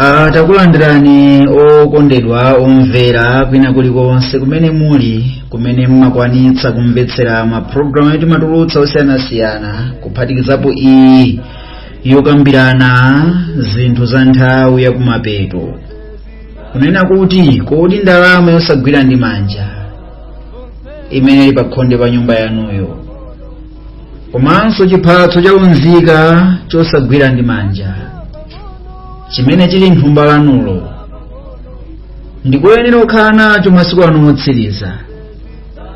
Ah, takulandirani okondedwa omvera kwina kulikonse kumene muli kumene mmakwanitsa kumvetsera mapulogalamu yotimatulutsa osiyanasiyana kuphatikizapo iyi yokambirana zinthu za nthawi yakumapeto kunena kuti kodi ndalama yosagwira ndi manja imene ili pakhonde pa nyumba yanuyo komanso chiphatso cha unzika chosagwira ndi manja chimene chili mthumba lanulo ndikuyenera kukhala nacho masiku ano otsiriza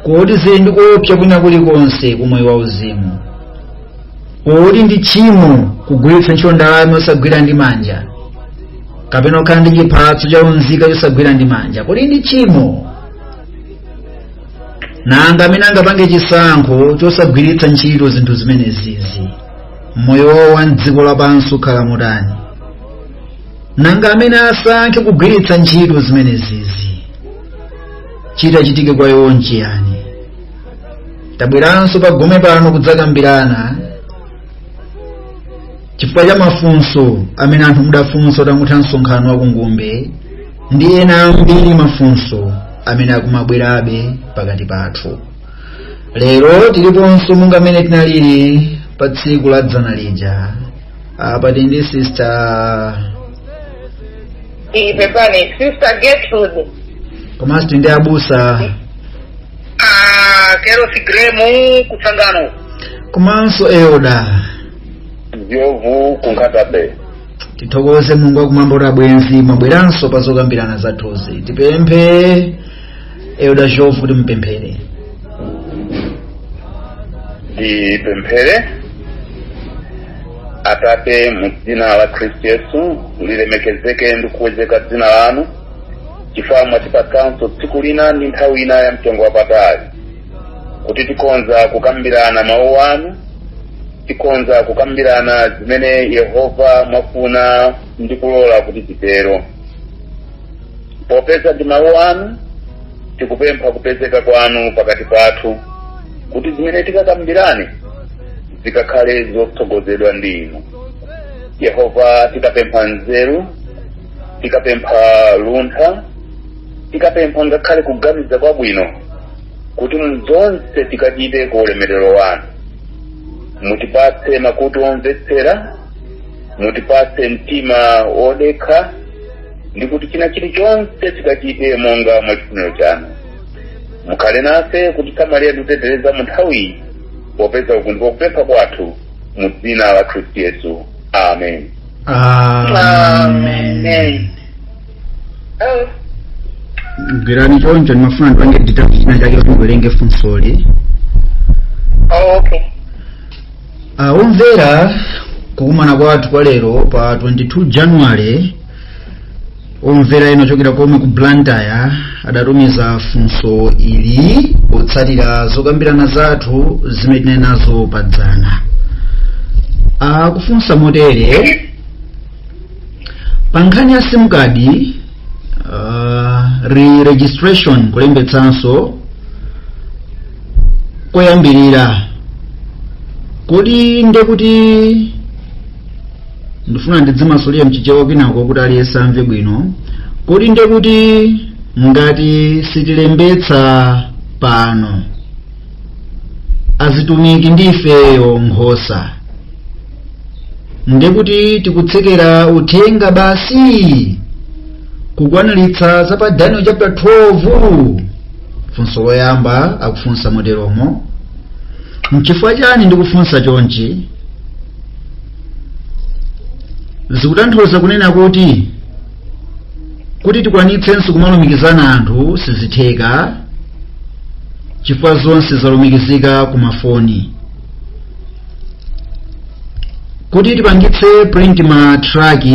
kodi zili ndi kuopsa kwina kulikonse kumoyo wa uzimu kodi ndi tchimo kugwiritsa ntchito ndalama yosagwira ndi manja kapena kukhala ndi chiphatso cha unzika chosagwira ndi manja kodi ndi tchimo nanga amene angapange chisankho chosagwiritsa ntchito zinthu zimenezizi mmoyo wawo wa mdziko lapansi ukhala motani nanga amene asankhe kugwiritsa ntchito zimenezizi chitachitike kwa iwo nchiyani tabweranso pagome pano kudzakambirana chifukwa cha mafunso amene anthu mudafunsa utangotha msonkhano wa kungumbe ndi ena ambiri mafunso amene akumabwerabe pakati pathu lero tiliponso monga mmene tinalili pa tsiku la dzana lija apa tili ndi sister ipepani sister gertrude komanso tili ndi abusa Ah, kerosi gremu ku Tsangano komanso elder Njovu ku Nkhatabay tithokoze mulungu wakumwamba kuti abwenzi mwabweranso pa zokambirana zathuzi tipemphe elder Njovu kuti mupemphere tipemphere atate mu dzina la khristu yesu lilemekezeke ndi kukwezeka dzina lanu chifukwa mwatipatsanso tsiku lina ndi nthawi ina ya mtengo wapatali kuti tikhonza kukambirana mawu anu tikhonza kukambirana zimene yehova mwafuna ndi kulola kuti titero popeza ndi mawu anu tikupempha kupezeka kwanu pakati pathu kuti zimene tikakambirane zikakhale zotsogozedwa ndi inu yehova tikapempha nzeru tikapempha luntha tikapempha ngakhale kuganiza kwabwino kuti mzonse tikachite ku ulemerero wanu mutipatse makutu omvetsera mutipatse mtima wodekha ndi kuti china chilichonse chikachitike monga mwa chifuniro chanu mukhale nafe kutisamalira ndi kutiteteza mu nthawiyi popeza uku ndiko kupempha kwathu mu dzina la khristu yesu amen gwirani choncho ndimafuna ndipange dinda china chake kuti ndiwerenge funsoli Oh, okay. Ah, omvera kukumana kwathu kwa lero pa 22 january omvera ena ochokera komwe ku blantyre adatumiza funso ili potsatira zokambirana zathu zimene tinali nazo pa dzana akufunsa motere pankhani ya sim card uh, re-registration kulembetsanso koyambirira kodi ndekuti ndifuna ndizimasulira mchichewa kwinako kuti aliyense amve bwino kodi ndekuti ngati sitilembetsa pano azitumiki ndifeyo nkhosa ndikuti tikutsekera uthenga basi kukwaniritsa za pa daniel chapter 12 funso loyamba akufunsa moteromo nchifukwa chani ndikufunsa chonchi zikutanthauza kunena kuti kuti tikwanitsenso kumalumikizana anthu sizitheka chifukwa zonse zalumikizika ku mafoni kuti tipangitse print ma tract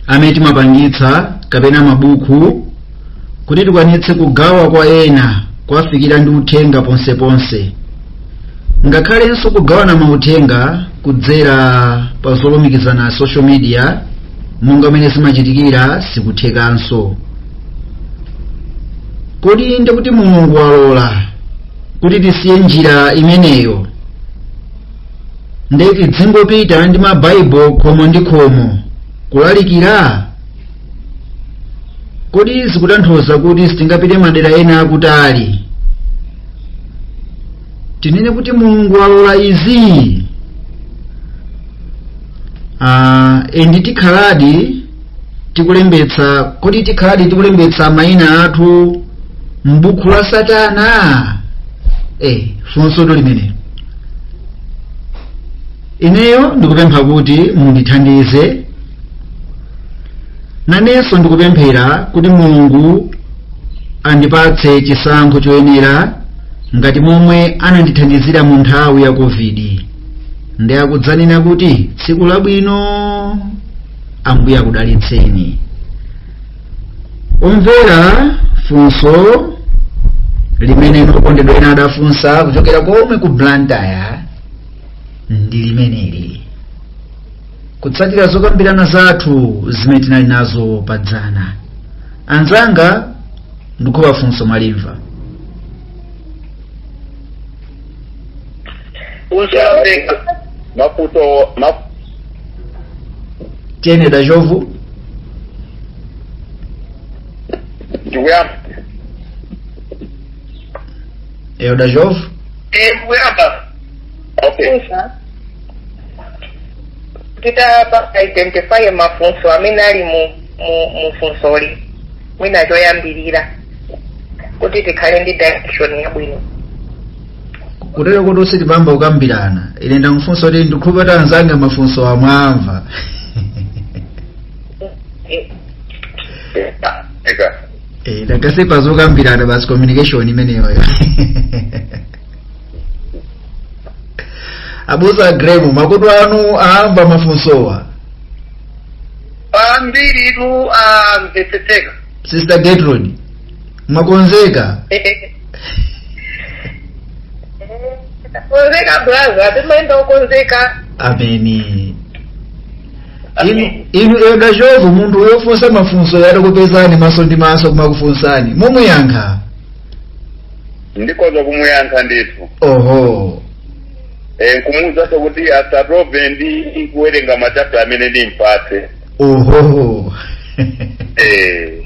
amene timapangitsa kapena mabuku kuti tikwanitse kugawa kwa ena kuwafikira ndi uthenga ponseponse ngakhalenso kugawana mauthenga kudzera pa zolumikizana social media monga mene zimachitikira sikuthekanso kodi ndikuti mulungu walola kuti tisiye njira imeneyo nde tidzingopita ndi mabaibulo khomo ndi khomo kulalikira kodi izi zikutanthauza kuti sitingapite madera ena akutali tinene kuti mulungu walola izi ah, endi tikhaladi tikulembetsa kodi tikhaladi tikulembetsa mayina athu m'buku la satana eh funsotu limenelo ineyo ndikupempha kuti mundithandize nanenso ndikupemphera kuti mulungu andipatse chisankho choyenera ngati momwe anandithandizira mu nthawi ya covid ndi akudzanena kuti tsiku labwino ambuye akudalitseni omvera funso limene inu okondedwa ena adafunsa kuchokera komwe ku blantyre ndi limeneli kutsatira zokambirana zathu zimene tinali nazo padzana anzanga ndikhulupira funso mwalimva Usabe maputo maputo tiyene dachovu ndikuyamba eyo dachovu Eh, ndikuyamba okay kufunsa tita identify mafunso amene ali mu mu mufunsoli mwina choyambirira kuti tikhale ndi direction yabwino kutero kuti tisanayambe kukambirana ine ndimafunsa kuti ndikhulupira kuti anzanga mafunsowa mwamva eka Eh, ndakase pazokambirana basi communication imeneyoyo abusa gremu makutu anu aamva mafunsowa ambiritu amvetseteka sister getrude mwakonzeka konzeka braza timayenda okonzeka ameni inu inu eda chovu munthu wofunsa mafunsoyu atakupezani maso ndi maso kumakufunsani mumuyankha ndikoza kumuyankha ndithu oho eh, nkumuwuzanso kuti asatope ndi kuwerenga machapta amene ndimupatse ohoho eh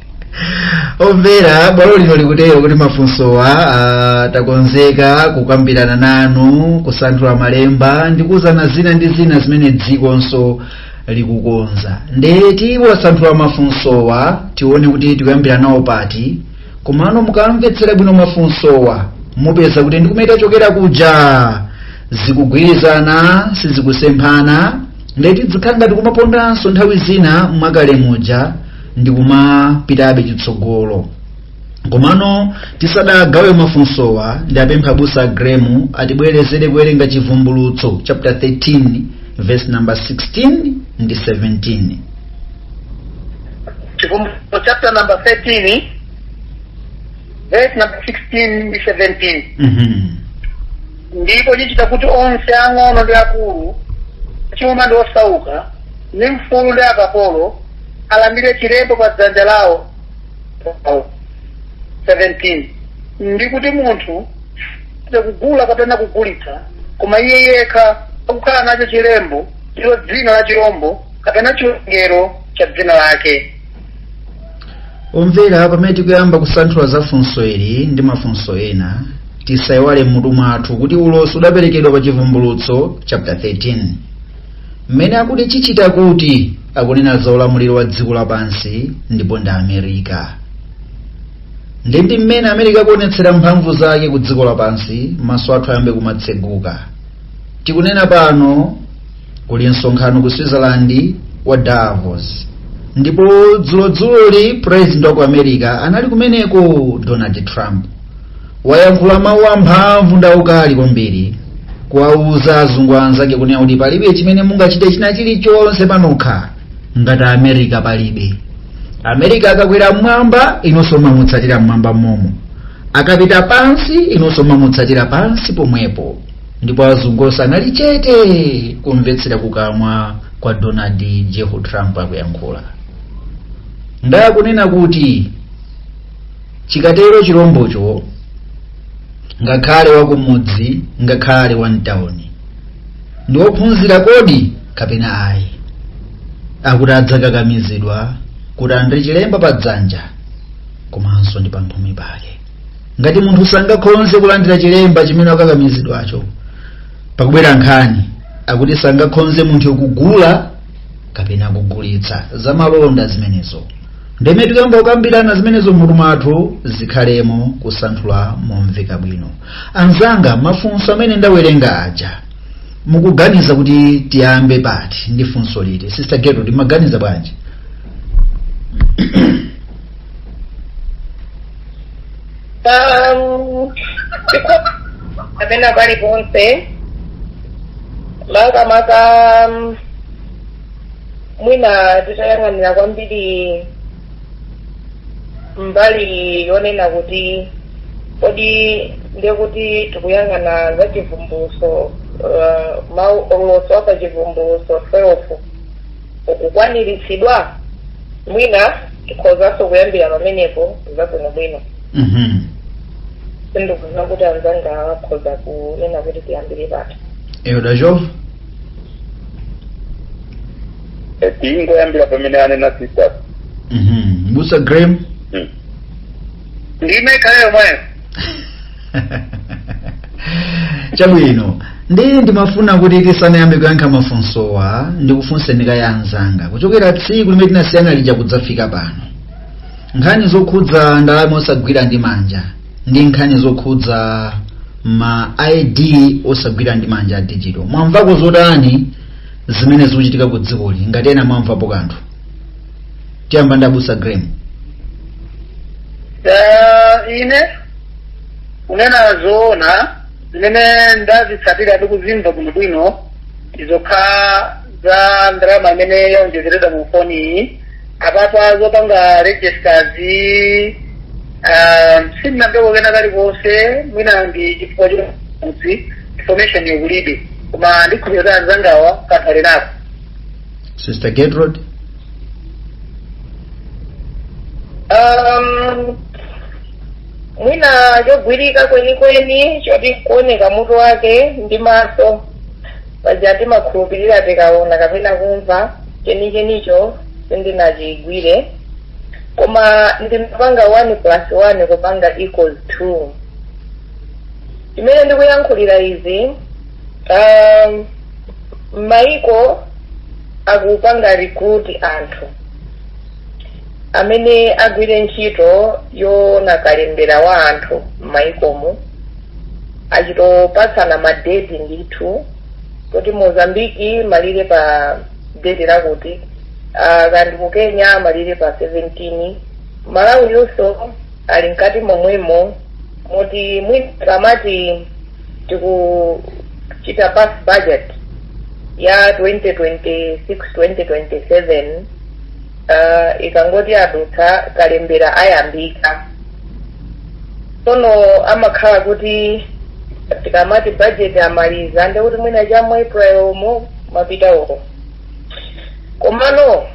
omvera bwalo lino likutero kuti mafunsowa ah, takonzeka kukambirana nanu kusanthula malemba ndi kuuzana zina ndi zina zimene dzikonso likukonza nde tiwasanthula mafunsowa tione kuti tikuyambira nawo pati komano mukamvetsera bwino mafunsowa mupeza kuti ndikumene tachokera kuja zikugwirizana sizikusemphana ndiye tidzikhala ngati kumapondanso nthawi zina mwakale muja ndi kumapitabe chitsogolo komano tisadagawe mafunsowa ndipemphe abusa a Gremu atibwerezere kuwerenga chivumbulutso chapter 13 verse number 16 ndi 17 chivumbulutso chapter number 13 verse number 16 ndi 17 Mhm. ndipo chichita kuti onse ang'ono ndi akulu achuma ndi osauka ndi mfulu ndi akapolo alandire chilembo pa dzanja lawo 17 ndi kuti munthu sangathe kugula kapena kugulitsa koma iye yekha akukhala nacho chilembo ndilo dzina la chirombo kapena chiwerengero cha dzina lake omvera pamene tikuyamba kusanthula za funso ili ndi mafunso ena tisayiwale m'mutu mwathu kuti ulosi uwu waperekedwa pa chivumbulutso chapter 13 mmene akuti chichita kuti akunena za ulamuliro wa dziko lapansi ndipo ndi amerika nde ndi mmene amerika akuonetsera mphamvu zake ku dziko lapansi maso athu ayambe kumatseguka tikunena pano kuli msonkhano ku switzerland wa davos ndipo dzulodzuloli president wa ku america anali kumeneko donald trump wayankhula mawu amphamvu ndi aukali kwambiri kuwauza azungu anzake kunena kuti palibe chimene mungachite china chilichonse panokha ngati america palibe america akakwera mmwamba inunso mumamutsatira mmwamba momo akapita pansi inunso mumamutsatira pansi pomwepo ndipo azungu onse anali chete kumvetsera kukamwa kwa donald j trump akuyankhula nde akunena kuti chikatero chilombocho ngakhale wakumudzi ngakhale wamtawuni ndi wophunzira kodi kapena ayi akuti adzakakamizidwa kuti alandire chilemba pa dzanja komanso ndi pamphumi pake ngati munthu sangakhonze kulandira chilemba chimene akukakamizidwacho pakubwera nkhani akuti sangakhonze munthu kugula kapena kugulitsa zamalonda zimenezo nde mmene tikuyamba kukambirana zimenezo mmutu mwathu zikhalemo kusanthula momveka bwino anzanga mafunso amene ndawerenga aja mukuganiza kuti tiyambe pati ndi funso liti sister Gertrude mumaganiza bwanji Um, kapena pali ponse makamaka um, mwina tidzayang'anira kwambiri mbali yonena kuti kodi ndiye kuti tikuyang'ana za chivumbuluso uh, mau olosera a pa chivumbuluso 12 akukwaniritsidwa mwina tikhozanso kuyambira pamenepo zabwinobwino Mhm. sindikudziwa kuti anzanga akhoza kunena kuti tiyambire pati elder jof tingoyambira pamene anena sister Mhm. m'busa graham ndime ikhale yomweyo chabwino ndi ndimafuna kuti tisanayambe kuyankha mafunsowa ndikufunseni kaye anzanga kuchokera tsiku limene tinasiyana lija kudzafika pano nkhani zokhudza ndalama osagwira ndi manja ndi nkhani zokhudza ma id osagwira ndi manja a digital mwamvako zotani zimene zikuchitika ku dzikoli ngati ena mwamvapo kanthu tiyamba ndi abusa graham Eh, ine kunena zoona zimene ndazitsatira ndi kuzimva bwinobwino zokhudza za ndalama imene yaonjezeredwa mu foni iyi apatsa zopanga registers ah, sindinamveko kena kalikonse mwina ndi chifukwa choti information yokulibe koma ndikhulupirira kuti anzangawa kanthu atha kukhala nako sister gertrude um, mwina chogwirika kwenikweni choti kuoneka mutu wake ndi maso paja timakhulupirira tikaona kapena kumva chenichenicho sindinachigwire koma ndimapanga 1 plus 1 kupanga equals 2 chimene ndikuyankhulira izi um, maiko akupanga recruit anthu amene agwire ntchito yoona kalembera wa anthu m'maikomo achita kupatsana madeti ndithu kuti mozambiki imalize pa deti lakuti ah, uganda ndi kenya imalize pa 17 malawi nayonso ili mkati momwemo moti mwina kamati tikuchita pass budget ya 2026-2027 uh, ikangoti yadutsa kalembera ayambika sono amakhala kuti tikamati budget amaliza ndekuti mwina cha mu april umo mapita uko komano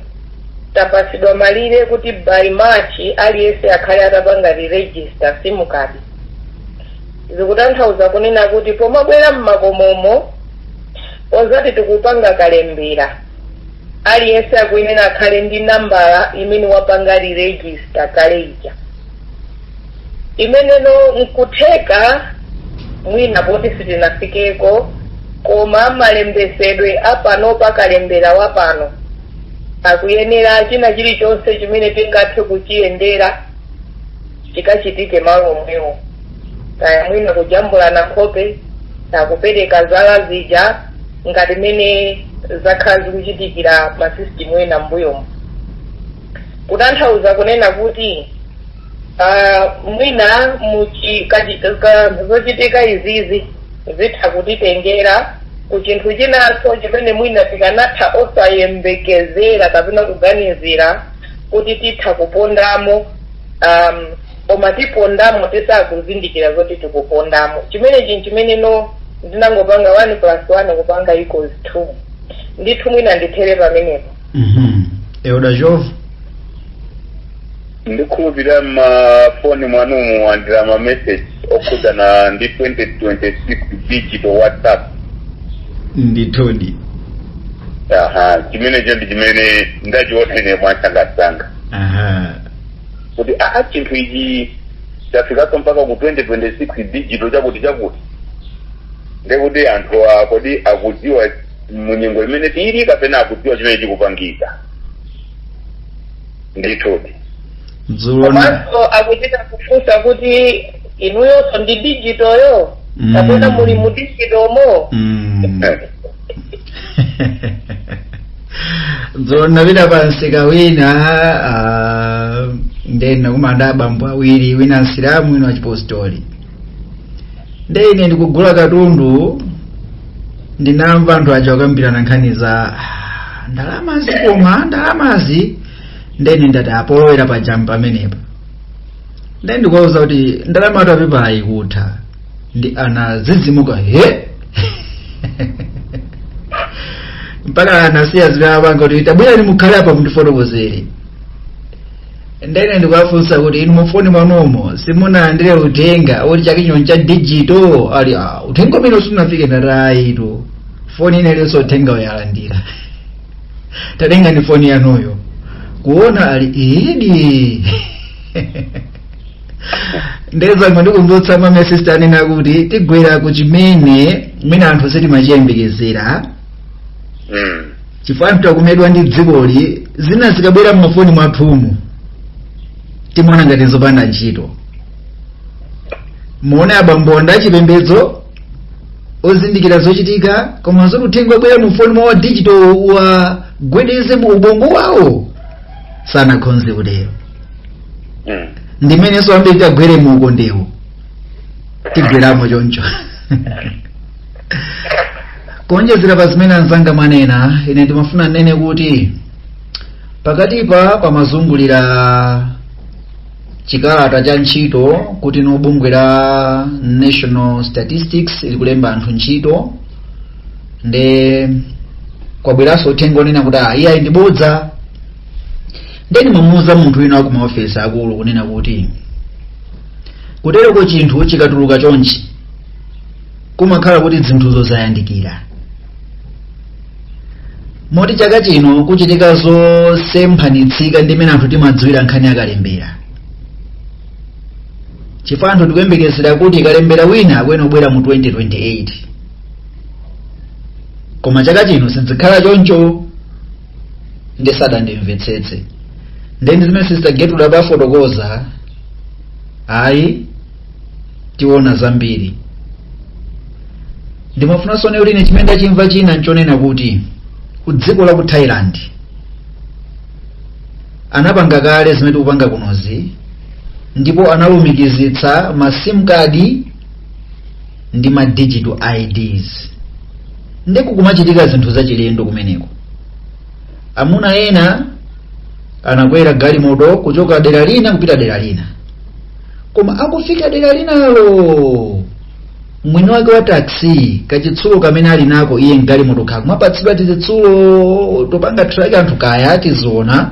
tapasidwa malire kuti by march aliyense akhale atapanga re-register simukadi zikutanthauza kunena kuti pomabwera m'makomomo ozati tikupanga kalembera aliyense akuyenera akhale ndi nambala imene wapanga liregista kale ija imene nkutheka mwina poti sitinafikeko koma malembetsedwe apanopa kalembera wapano akuyenera china chilichonse chimene tingathe kuchiyendera chikachitike malo omwewo kaya mwina kujambulana nkhope kupereka zala zija ngati mmene zakhala zikuchitikira masisitimu ena m'mbuyomu kutanthauza kunena kuti uh, mwina muchi, kachi, ka, zochitika izizi zitha kutitengera ku chinthu chinanso chimene mwina tikanatha osayembekezera kapena kuganizira kuti titha kupondamo um, koma tipondamo tisakuzindikira zoti tikupondamo chimenecho nchimene no ndinangopanga 1 plus 1 kupanga equals 2 ndithu mwina ndithere pamenepo Mhm. Elder Jove. ndikhulupirira m'mafoni mwanumu mwalandira mameseji okhudzana ndi 2026 digital whatsapp Ndithudi. aha chimenecho ndi chimene ndachiona ine mwansangansanga Aha. kuti aa chinthu ichi chafikanso mpaka ku 2026 digital chakuti chakuti ndekuti anthu a- kodi akudziwa munyengo imene tili kapena akudziwa chimene chikupangika ndithudi dzulo na komanso akuchita kufunsa kuti inuyonso ndi digitoyo Mm. kapena muli mu digitomo Mm. Eh, ndinapita pa msika wina ah, nde ndinakumana ndi abambo awiri wina msilamu wina wachipostoli nde ine ndikugula katundu ndinamva anthu aja akukambirana nkhani za "Ah, ndalamazi koma ndalamazi nde ine ndati apa polowera pa jambo pamenepa nde ndikuwauza kuti ndalamatu ya pepala ikutha ndi anadzidzimuka he mpaka anasiya zimene amapanga kuti tabwerani mukhale apa mundifotokozere nde ine ndikuwafunsa kuti inu mufoni mwanomo simunalandire uthenga woti chaka chino cha dijito ali "Ah, uthenga umenewo sunafike ndatayitu foni ina iliyonse uthengawu yalandira tatengani foni yanuyo kuona ali idi nde ndangoti ndikumbutsa mmene asista anena kuti tigwere ku chimene mwina anthu sitimachiyembekezera Mm. chifukwa anthu takumedwa ndi dzikoli zina zikabwera mmafoni mwathumu timaona ngati zopanda ntchito muwone abambo ndi achipembedzo ozindikira zochitika koma zoti uthenga wabwera mufoni mwa wa digital wa gwedeze mu ubongo wawo sanakhonze kutero Mm. ndi mmenenso ambiri titagwere mu ukondewo tigweramo choncho kuonjezera pa zimene anzanga mwanena ine ndimafuna nnene kuti pakatipa pamazungulira chikalata cha ntchito kuti bungwe la national statistics likulemba anthu ntchito nde kwabweranso uthenga onena kuti ah, iyayi ndi bodza ndiye ndimamuuza munthu wina wa ku maofesi akulu kunena kuti kuteroko chinthu chikatuluka chonchi kumakhala kuti zinthuzo zayandikira moti chaka chino kuchitika zosemphanitsika ndi mmene anthu timadziwira nkhani ya kalembera chifukwa anthu tikuyembekezera kuti kalembera wina akuyena kubwera mu 2028 koma chaka chino sizikhala choncho nde sadandimvetsetse nde ndi zimene sister getrude adafotokoza ayi tiona zambiri ndimafunanso nnene kuti ine chimene ndachimva china nchonena kuti ku dziko la ku thailand anapanga kale zimene tikupanga kunozi ndipo analumikizitsa ma sim card ndi ma digital ids nde kukuchitika zinthu zachilendo kumeneko amuna ena anakwera galimoto kuchoka dera lina kupita dera lina koma akufika dera linalo mwini wake wa taxi kachitsulo kamene ali nako iye mgalimoto akumapatsidwa tizitsulo topanga traki anthu kaya tiziona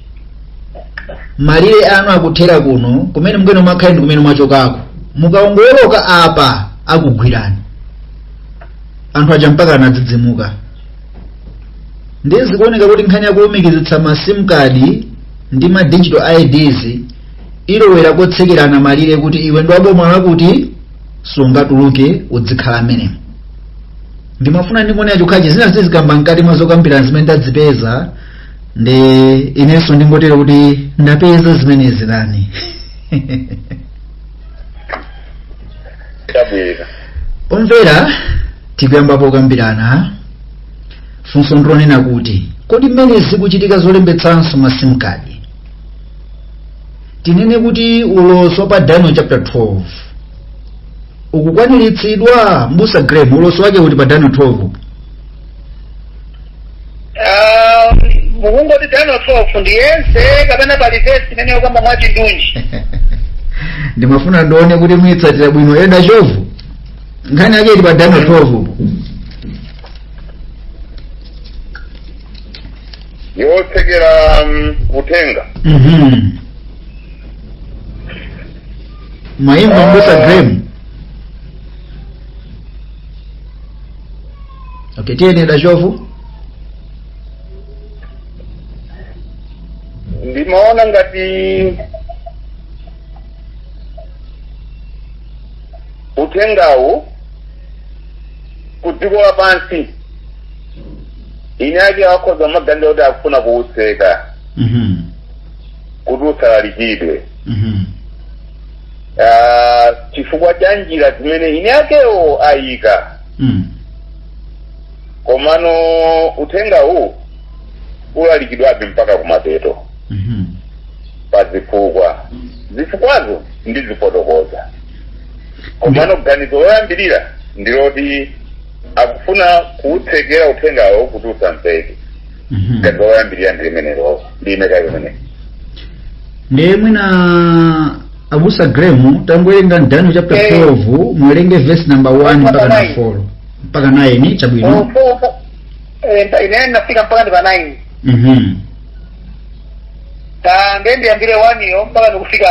malire anu akuthera kuno kumene mukuyenda mukhale ndi kumene mwachokako mukawongoloka apa akugwirani anthu aja mpaka anadzidzimuka ndiye zikuoneka kuti nkhani yakulumikizitsa ma sim card ndi ma digital ids ilowera kotsekerana malire kuti iwe ndi wa boma lakuti sungatuluke udzikhala mmenemo ndimafuna ndingonena chokhachi zina tizikamba mkati mwa zokambirana zimene ndazipeza ndi inenso ndingotero kuti ndapeza zimenezi nani chabwino omvera tikuyamba pokambirana funso ndi lonena kuti kodi mmene zikuchitika zolembetsanso ma sim card tinene kuti ulosi wa pa daniel chapter 12 ukukwaniritsidwa mbusa graham ulosi wake uli pa daniel 12 Ah, mukungoti daniel 12 ndiye yense kapena pali vesi imene ikukamba mwachindunji ndimafuna ndione kuti mukuitsatira bwino eda chovu nkhani yake ili pa daniel 12 upo yotsekera mm, uthenga Mhm. mayimba mbusa graham okay tiyeni dachovu ndimaona ngati uthengawu ku dziko lapansi eni ake akonza maganizo kuti akufuna kuutseka mhm kuti usalalikidwe mhm ah, chifukwa cha njira zimene eni akewo ayika Mm. komano uthenga uwu ulalikidwabe mpaka kumapeto Mhm. pa zifukwa zifukwazo ndizifotokoza komano ganizo loyambirira ndiloti akufuna kuutsekera uthengawo kuti usamveke Mhm. ganizo loyambirira ndi limenelo ndi ina chake imene ndiye mwina abusa graham tangowerengani daniel chapter Eh. 12 muwerenge verse number 1 mpaka Mpaka na nine. 4 mpaka 9 chabwino inenso ndifika mpaka ndi pa 9 mhm ta ndiye ndiyambire 1 yo mpaka ndikafike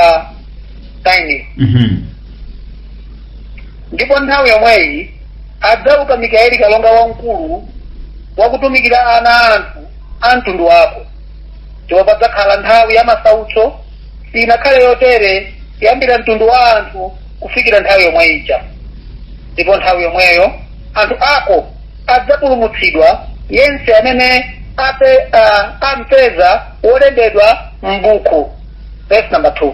9 mhm ndipo nthawi yomweyo adzauka mikaeli kalonga wamkulu wakutumikira ana a anthu a mtundu wako ndipo padzakhala nthawi ya masautso sinakhale yotere kuyambira mtundu wa anthu kufikira nthawi yomwe ija ndipo nthawi yomweyo anthu ako adzapulumutsidwa yense amene ape, uh, ampeza wolembedwa m'buku verse number 2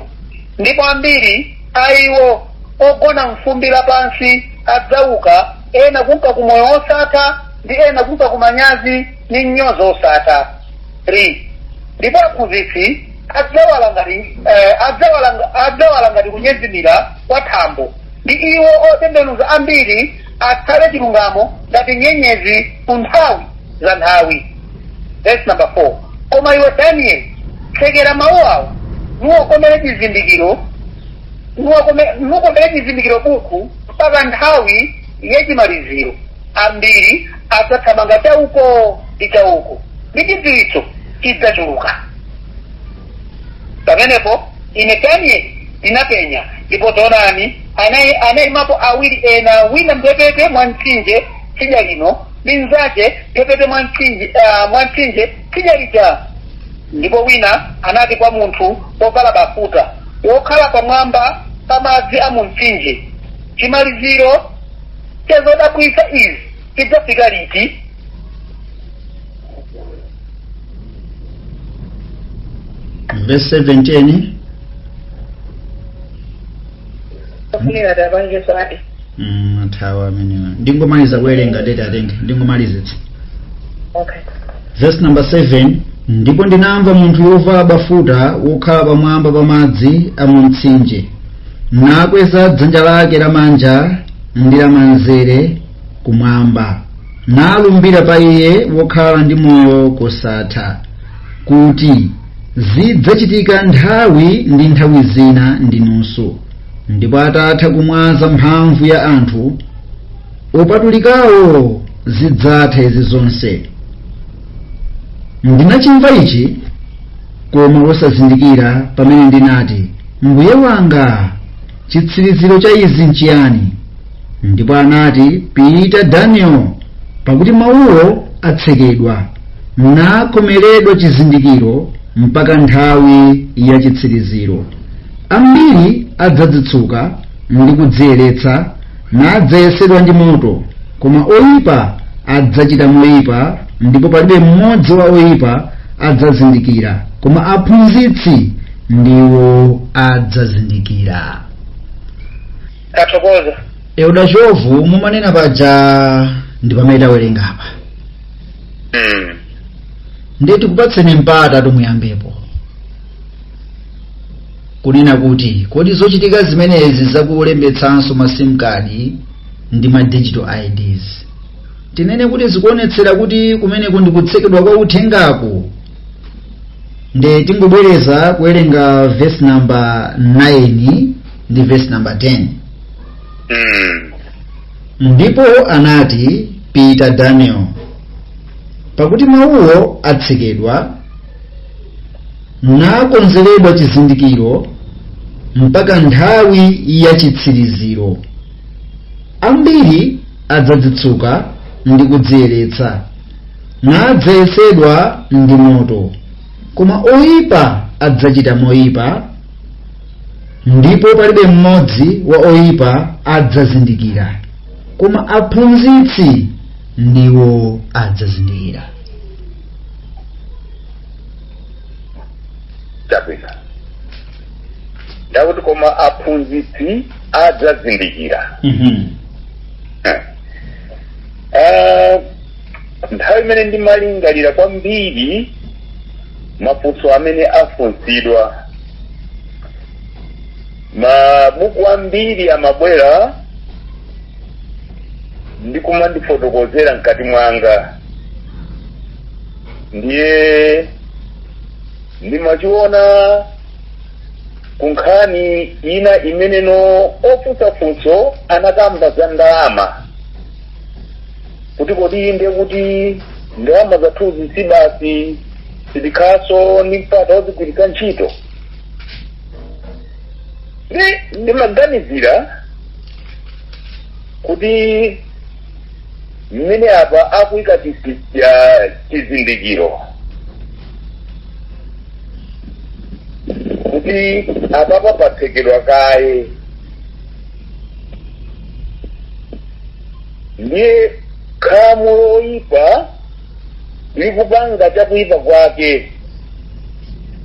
ndipo ambiri a iwo ogona m'fumbi lapansi adzauka ena kunka ku moyo wosatha ndi ena kunka ku manyazi ndi mnyozo wosatha 3 ndipo aphunzitsi adzawala ngati eh, adzawala nga- adzawala ngati kunyezimira kwa thambo ndi iwo otembenuza ambiri atsate chilungamo ngati nyenyezi ku nthawi za nthawi verse number 4 koma iwe danieli tsekera mawu awo nuwakomere chizindikiro nuwakome- nukomere chizindikiro buku mpaka nthawi yachimaliziro ambiri adzathamanga chauko ndi chauko ndi chidziwitso chidzachuluka pamenepo ine danieli ndinapenya ndipo taonani anai anaimapo awiri ena wina mphepete mwa mtsinje tsidya lino ndi mnzake mphepete mwa mtsinje ah, mwa mtsinje tsidya lija ndipo wina anati kwa munthu wovala bafuta wokhala pamwamba pa madzi a mu mtsinje chimaliziro cha zodabwitsa izi chidzafika liti verse 17 afunira tapange sati mm, athawa amenewa ndingomaliza kuwerenga tete atenge ndingomalizitsa okay verse number 7 ndipo ndinamva munthuyo wovala bafuta wokhala pamwamba pa madzi a mu mtsinje nakweza dzanja lake lamanja ndi lamanzere kumwamba nalumbira pa iye wokhala ndi moyo kosatha kuti zidzachitika nthawi ndi nthawi zina ndi nusu ndipo atatha kumwaza mphamvu ya anthu opatulikawo zidzatha izi zonse ndinachimva ichi koma osazindikira pamene ndinati mbuye wanga chitsiriziro cha izi nchiyani ndipo anati pita daniel pakuti mawuwo atsekedwa nakhomeredwa chizindikiro mpaka nthawi ya chitsiriziro ambiri adzadzitsuka ndi kudziyeretsa nadzayesedwa ndi moto koma oyipa adzachita moyipa ndipo palibe mmodzi wa oyipa adzazindikira koma aphunzitsi ndiwo adzazindikira tathokoza Elder Chovu mumanena paja ndi pamene tawerenga apa mm. ndiye tikupatseni mpata kuti muyambepo kunena kuti kodi zochitika zimenezi zakulembetsanso ma sim card ndi ma digital ids tinene kuti zikuonetsera kuti kumeneko ndi kutsekedwa kwa uthengaku nde tingobwereza kuwerenga verse number 9 ndi verse number 10 Mm. ndipo anati pita daniel pakuti mawuwo atsekedwa nakomeredwa chizindikiro mpaka nthawi ya chitsiriziro ambiri adzadzitsuka ndi kudziyeretsa nadzayesedwa ndi moto koma oyipa adzachita moyipa ndipo palibe mmodzi wa oyipa adzazindikira koma aphunzitsi ndiwo adzazindikira chabwino nde akuti koma aphunzitsi adzazindikira Mhm. Ah, nthawi imene ndimalingalira kwambiri mafunso amene afunsidwa mabuku ambiri amabwera ndikumandifotokozera mkati mwanga ndiye ndimachiona ku nkhani ina imeneno ofunsa funso anakamba za ndalama kuti kodi ndiye kuti ndalama zathuzi basi sitikhalanso ndi mpata wozigwiritsa ntchito ndi ndimaganizira kuti mmene apa akuika chi- chi- cha- chizindikiro kuti apapa patsekedwa kaye ndiye khamu loyipa likupanga chakuyipa kwake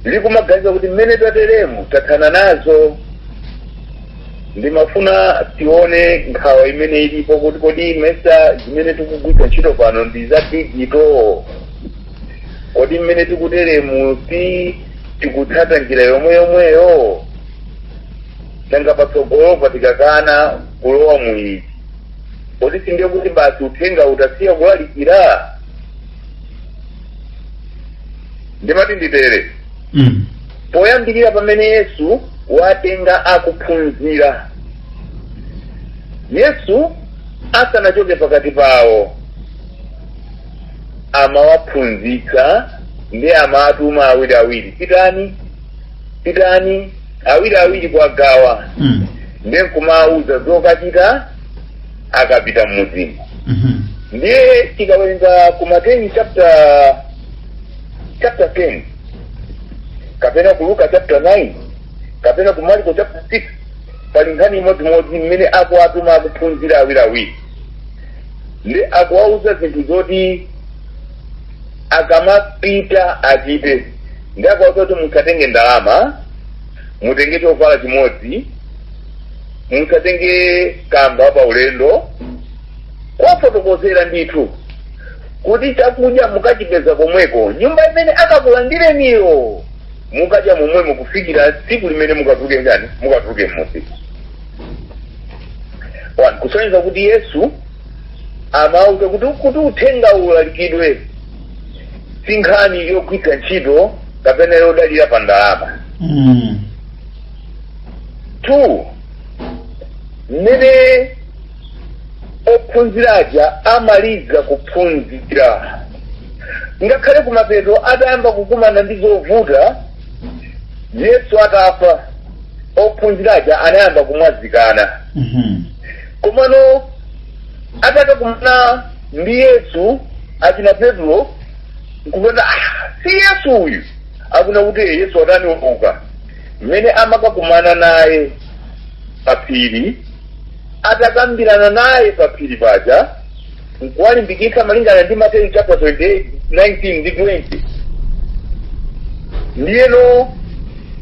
likumaganiza kuti mmene tateremu tathana nazo ndimafuna tione nkhawa imene ilipo kuti kodi mesa zimene tikugwiritsa ntchito pano ndi za digito kodi mmene tikuteremu ti tikutsata njira yomwe yomweyo nanga patsogolopa tikakana kulowa mu izi kodi sindiye kuti basi uthenga utasiya kulalikira ndimati nditere mm. Poyambirira pamene Yesu watenga akuphunzira, Yesu asanachoke pakati pawo amawaphunzitsa ndiye amawatuma awiriawiri, pitani pitani awiriawiri kwa gawa Mm. ndiye nkumawauza zokachita akapita mmudzimu Mhm. ndiye tikawerenga ku mateyu chapter chapter 10 kapena ku luka chapter 9 kapena ku marko chapter 6 pali nkhani imodzimodzi mmene akuwatuma akuphunzira awiriawiri ndi akuwauza zinthu zoti akamapita achite ndi akuwauza kuti musatenge ndalama mutenge chovala chimodzi musatenge kamba pa ulendo kuwafotokozera ndithu kuti chakudya mukachipeza komweko nyumba imene akakulandireniyo mukadye momwemo kufikira tsiku limene mukatani mukatuluke m'mudzi One, kusonyeza kuti yesu amawauza kuti kuti uthenga ulalikidwe si nkhani yogwiritsa ntchito kapena yodalira pa ndalama Mm. two mmene ophunzira aja amaliza kuphunzira ngakhale kumapeto atayamba kukumana ndi zovuta yesu atafa ophunzira aja anayamba kumwazikana Mhm. komano atakakumana ndi yesu achina petro nkupeza "Ah, si yesu uyu akunena kuti "Eh, yesu watani wauka mmene amakakumana naye paphiri atakambirana naye pa phiri paja nkuwalimbikitsa malingana ndi mateyu chapter 28 19 ndi 20 ndiyeno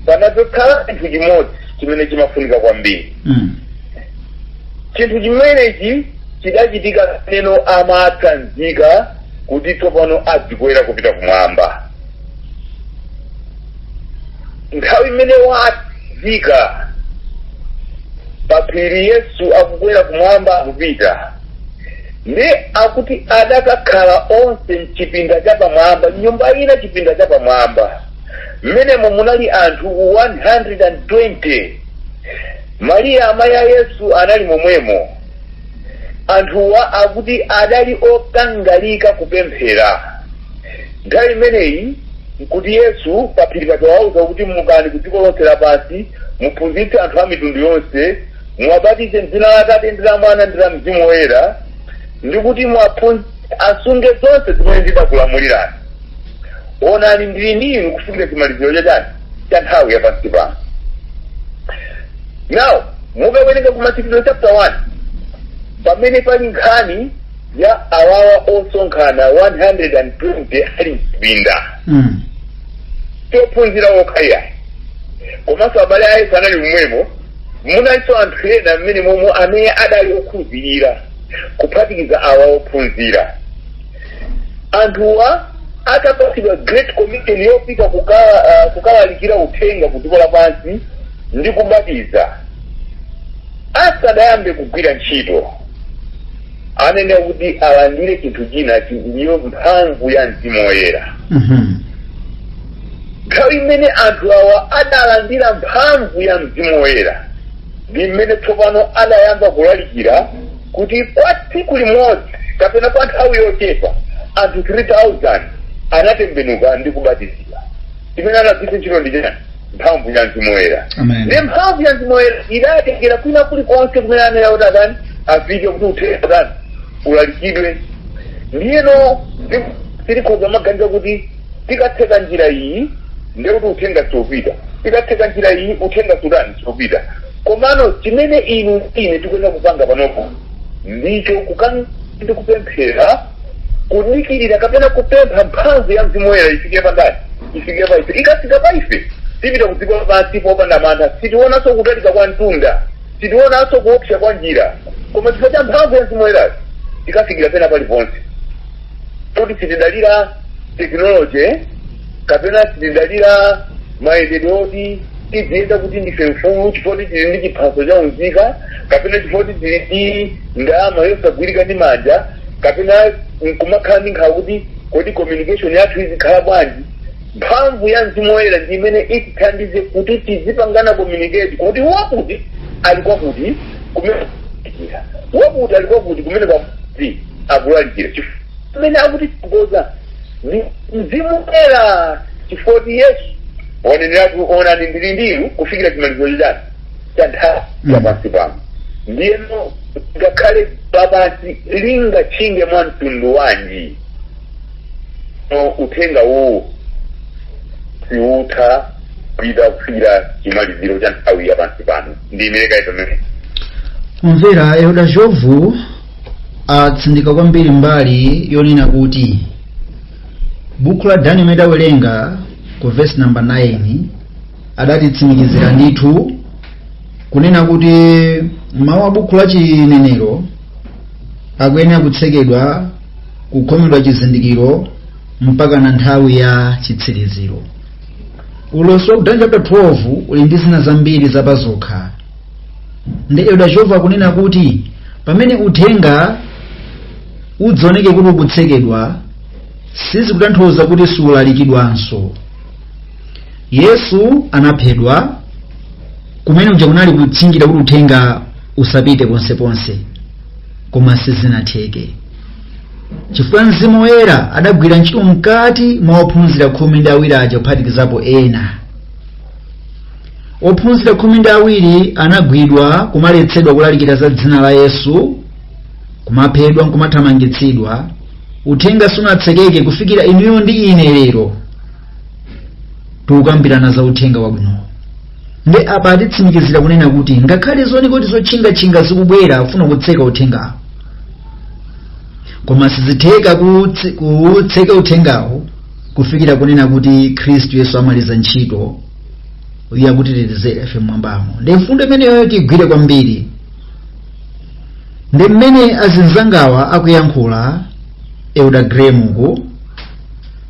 panadzakhala chinthu chimodzi chimene chimafunika kwambiri Mm. chinthu chimenechi chidachitika pamene amatsanzika kuti tsopano adzikwera kupita kumwamba nthawi imene wafika paphiri yesu akukwera kumwamba akupita ndi akuti adakakhala onse mchipinda chapamwamba m'nyumba ina chipinda chapamwamba mmenemo munali anthu 120 mariya amayi a yesu anali momwemo anthuwa akuti adali okangalika kupemphera Nthawi imeneyi nkuti Yesu paphiri paja wawauza kuti, Mukani ku dziko lonse lapansi, muphunzitse anthu a mitundu yonse, muwabatize m'dzina la Atate ndi la Mwana ndi la Mzimu Woyera, ndi kuti asunge zonse zimene ndidakulamulirani. Onani ndili ndi inu kufikira chimaliziro chachani cha nthawi ya pansi pano. Now, mukawerenga ku Machitidwe chapter 1 pamene pali nkhani ya awawa osonkhana 120 ali mchipinda si ophunzira okha ayi komanso abale a yesu anali momwemo munalinso anthu ena mmene momwe amene adali okhulupirira kuphatikiza awa ophunzira anthuwa atapatsidwa great commission yopita kukalalikira uthenga ku dziko lapansi ndi kubatiza asadayambe kugwira ntchito anayenera kuti alandire chinthu china ndiyo mphamvu ya mzimu woyera nthawi imene anthu awa adalandira mphamvu ya mzimu woyera ndi mmene tsopano adayamba kulalikira kuti kwa tsiku limodzi kapena kwa nthawi yochepa anthu 3000 anatembenuka ndi kubatizidwa imene anagwiritsa ntchito ndi chani mphamvu ya mzimu woyera ndiye mphamvu ya mzimu woyera idatengera kwina kulikonse kumene anayenera kuti atani afike kuti uthenga utani ulalikidwe ndiyeno tikhoza kumaganiza kuti tikatseka njira iyi ndiye kuti uthenga siupita tikatseka njira iyi uthenga sutani siupita komano chimene inu ndi ine tikuyenera kupanga panopo ndicho kukan ndi kupemphera kudikirira kapena kupempha mphamvu ya mzimu woyera ifike pa ndani ifike pa ife ikafika pa ife tipita kudziko lapansi popanda mantha sitionanso kutalika kwa mtunda sitionanso kuopsa kwa njira koma chifukwa cha mphamvu ya mzimu woyerayo tikafikira pena paliponse kuti sitidalira tekinoloji kapena sitidalira mayendedwe oti tidziyenda kuti ndife mfulu chifukwa kuti tili ndi chiphaso cha unzika kapena chifukwa kuti tili ndi ndalama yosagwirika ndi manja kapena nkumakhala ndi nkhawa kuti kodi communication yathu izikhala bwanji mphamvu ya mzimu woyera ndi imene itithandize kuti tizipangana communicate kuti wakuti ali kwakuti kumene akulalikira wakuti ali kwakuti kumene kwakuti akulalikira chifukwa amene akutitsogoza ndi mzimu woyera chifukwa kuti yesu ananeneratu onani ndili ndi inu kufikira chimaliziro cha nthawi ya Mm. pansi pano ndiyeno ngakhale dziko lapansi lingatchinge mwa mtundu wanji no uthenga uwu siutha upita kufikira chimaliziro cha nthawi ya pansi pano ndi mmene takumvera elda jovu atsindika kwambiri mbali yonena kuti buku la daniel mmene adawerenga ku vesi namba 9 adatitsimikizira ndithu kunena kuti mawu a buku la chinenero akuyenera kutsekedwa kukhomedwa chizindikiro mpaka na nthawi ya chitsiriziro ulosi wa ku Daniel chapter 12 uli ndi zina zambiri zapazokha ndi elder jovu akunena kuti pamene uthenga uzioneke kuti ukutsekedwa sizikutanthauza kuti siulalikidwanso yesu anaphedwa kumene uja kunali kutchingira kuti uthenga usapite ponseponse koma sizinatheke chifukwa mzimu woyera adagwira ntchito mkati mwa ophunzira khumi ndi awiri aja kuphatikizapo ena Ophunzira khumi ndi awiri anagwidwa, kumaletsedwa kulalikira za dzina la Yesu, kumaphedwa nkumathamangitsidwa. Uthenga sunatsekeke kufikira inuyo ndi ine lero tikukambirana za uthenga wabwino. Ndi apa atitsimikizira kunena kuti ngakhale zioneke kuti zotchingatchinga zikubwera kufuna kutseka uthengawo, koma sizitheka kuwutse- kuwutseka uthengawo kufikira kunena kuti Khristu Yesu amaliza ntchito iye akutitetezera ife mmwambamo nde mfundo imeneyo tigwire kwambiri nde mmene azinzangawa akuyankhula elder graham uku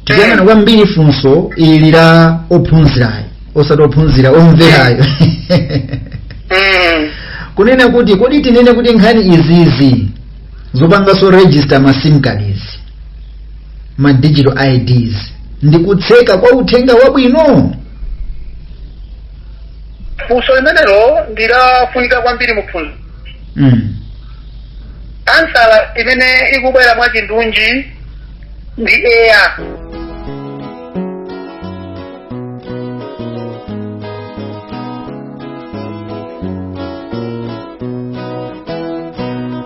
tikuyang'ana kwambiri funso ili la ophunzirayo osati ophunzira omverayo Mm. kunena kuti kodi tinene kuti nkhani izizi zopanganso register ma sim card izi ma digital ids ndi kutseka kwa uthenga wabwino funso limenelo ndi lofunika kwambiri muphunziro mm. ansala imene ikubwera mwachindunji ndi eya